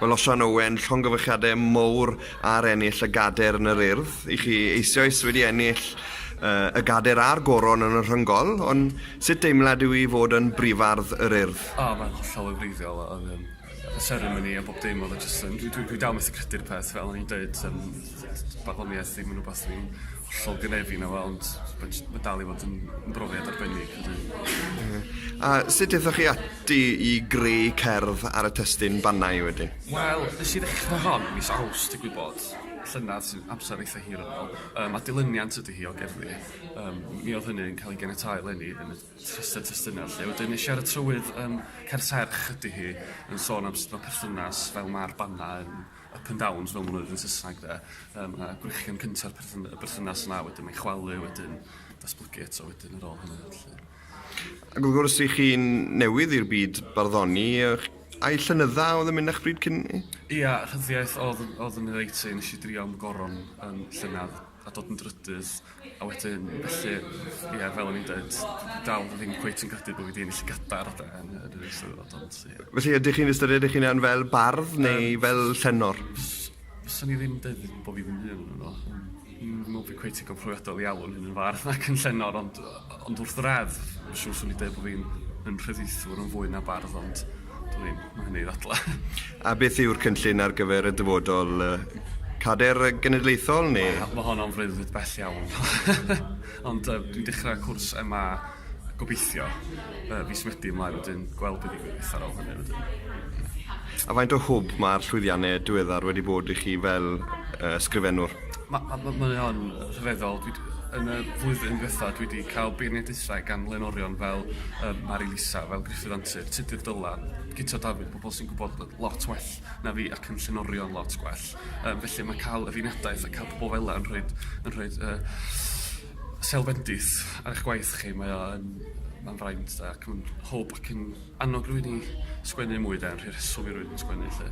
Welsoan Owen, llongyfarchiadau mowr ar ennill y gader yn yr Urdd. I chi eisioes wedi ennill uh, y gader a'r goron yn y rhyngol, ond sut deimlad yw i fod yn brifardd yr Urdd? O, oh, mae'n hollol o wreiddiol oedd um, y seremoni a bob dim oedd y jyst yn... Dwi, dwi, dwi dal methu credu'r peth fel o'n i'n dweud, um, barddoniaeth ddim yn rhywbeth dwi'n hollol grefin o weld ma' j- ma' dal i fod yn yn brofiad arbennig ydi. Ie. A sut dethoch chi ati i greu cerdd ar y testun Bannau wedyn? Wel, nes i ddechra hon mis Awst digwydd bod, llynedd sy'n amser eitha hir yn ôl, yym a dilyniant ydi hi o gerddi. Yym mi o'dd hynny'n ca'l ei ganiatáu eleni yn y rhestyr testuna 'lly. Wedyn nesh i ar y trywydd yym Cerdd Serch ydi hi yn sôn am sut ma' perthynas fel ma'r Bannau yn up and downs fel ma' nw'n ddeud yn Sysnag 'de yym a gwrechian cynta'r perthyn- y berthynas 'na wedyn mae'n chwalu wedyn datblygu eto wedyn ar ôl hynny felly. Ac wrth gwrs i chi'n newydd i'r byd barddoni ych ai llynydda oedd yn mynd â'ch bryd cyn 'ny? Ia rhyddiaith odd yn odd yn 'i reit i nes i drio 'm goron yn llynedd. a dod yn drydydd a wedyn felly ie fel o'n i'n deud dal ddim cweit yn credu bo' fi 'di ennill llygada'r ade yn yy yr Eisteddfod ond ie. Felly ydych chi'n ystyried eich hunan fel bardd neu Yym. fel llenor? Fys- fyswn i ddim deud bo' fi ddim byd yno. Dwi'm yn me'wl bo' fi cweit digon profiadol i alw fy hun yn fardd ac yn llenor ond yy Ond wrth yr edd, shw 'swn i'n deud bo' fi'n yn rhyddieithwr yn fwy na bardd ond dwn i'm, ma' hynny i ddadlau. A beth yw'r cynllun ar gyfer y dyfodol? Cader genedlaethol neu...? Wel ma' honno'n freuddwyd bell iawn ond yy dwi'n dechra cwrs MA gobeithio yy fis Medi ymlaen wedyn gweld be' ddigwydd ar ol hynny wedyn. A faint o hwb ma'r llwyddianne diweddar wedi bod i chi fel yy ysgrifennwr? Ma' ma' ma' mae o'n rhyfeddol dwi 'di... Yn y flwyddyn dwetha dwi 'di ca'l beirniad dwetha gan flaenorion fel yym Mari Lisa fel Gruffydd Antur, Tudur Dylan, Guto Dafydd, pobol sy'n gwbod yy lot well na fi ac yn llenorion lot gwell yym felly ma' ca'l y beirniadaeth a ca'l pobol fela yn rhoid yn rhoid yy sêl bendith ar 'ych gwaith chi mae o yn ma'n fraint da ac ma'n hwb ac yn annog rywun i sgwennu mwy 'de yn rhoi rheswm i rywun sgwennu 'lly.